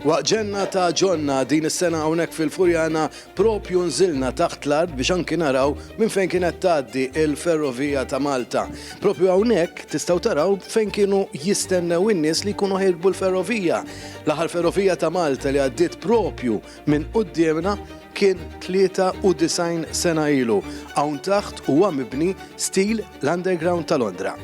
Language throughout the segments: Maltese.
Waqt ġenna ta' ġonna din is-sena hawnhekk fil-Furjana propju nżilna taħt l-art biex anki naraw minn fejn kienet tgħaddi il-ferrovija ta' Malta. Propju hawnhekk tistgħu taraw fejn kienu jistennew in-nies li jkunu ħirbu l-ferrovija. L-aħħar ferrovija ta' Malta li għaddiet propju minn quddiemna kien 93 sena ilu. Hawn taħt huwa mibni stil l-underground ta' Londra.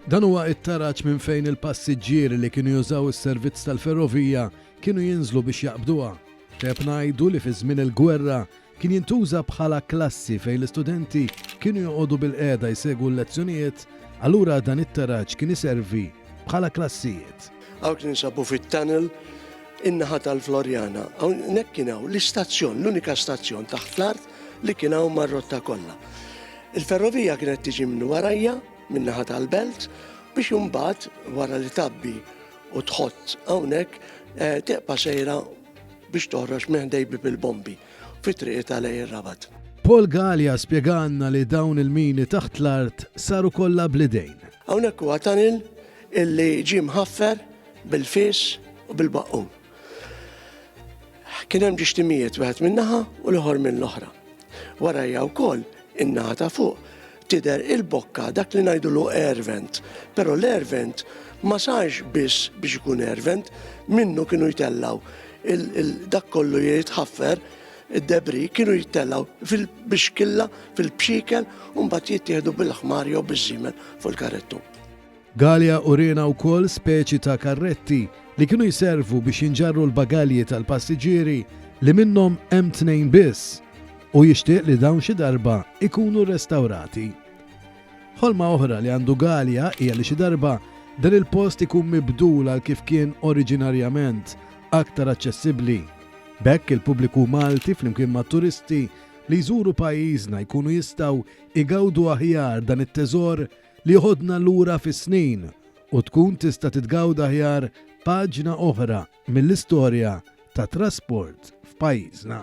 Dan huwa t-taraġ minn fejn il-passiġġieri li kienu jużaw is-servizz tal-ferrovija kienu jinżlu biex jaqbduha. Teb ngħidu li fi żmien il-gwerra Kien jintuża bħala klassi fejn l-istudenti kienu joqogħdu bilqiegħda jsegwu l-lezzjonijiet, allura dan it-taraġ kien iservi bħala klassijiet. Hawnhekk ninsabu fit-tunnel in-naħa tal-Floriana. Hawnhekk kien hawn l-istazzjon, l-unika stazzjon taħt l-art li kien hawn mar-rotta kollha. Il-ferrovija kienet tiġi minn warajja, min-naħa tal-belt, biex imbagħad wara li tabbi u tħott hawnhekk eh, teqpa sejra biex toħroġ minn ħdej bieb il-bombi fi triqitha lejn ir-Rabat. Paul Galea spjegalna li dawn il-mini taħt l-art saru kollha bl-idejn. Hawnhekk huwa tanil illi ġie mħaffer bil-fis u bil-baqqum. Kien hemm ġixtimijiet wieħed min-naħa u l-ieħor mill-oħra. Warajja wkoll in-naħa ta' fuq tidher il-bokka dak li ngħidulu air vent. Però l-air vent ma sarx biss biex ikun air vent, minnu kienu jtellaw dak kollu jitħaffer id-debri kienu jittellaw fil-bixkilla, fil-bxikel, un bat jittieħdu bil-ħmar jew biż-żimen fuq il-karettu. Galea uriena wkoll speċi ta' karretti li kienu jservu biex jinġarru l-bagalji tal-passiġġieri li minnhom hemm tnejn biss u jixtieq li dawn xi darba jkunu rrestawrati. Ħolma oħra li għandu Galea hija li xi darba dan il-post ikun mibdul għal kif kien oriġinarjament, aktar aċċessibbli. B'hekk il-pubbliku Malti flimkien mat-turisti li jżuru pajjiżna jkunu jistgħu jgawdu aħjar dan it-teżor li jħoddna lura fis-snin u tkun tista' titgawda aħjar paġna oħra mill-istorja tat-trasport f'pajjiżna.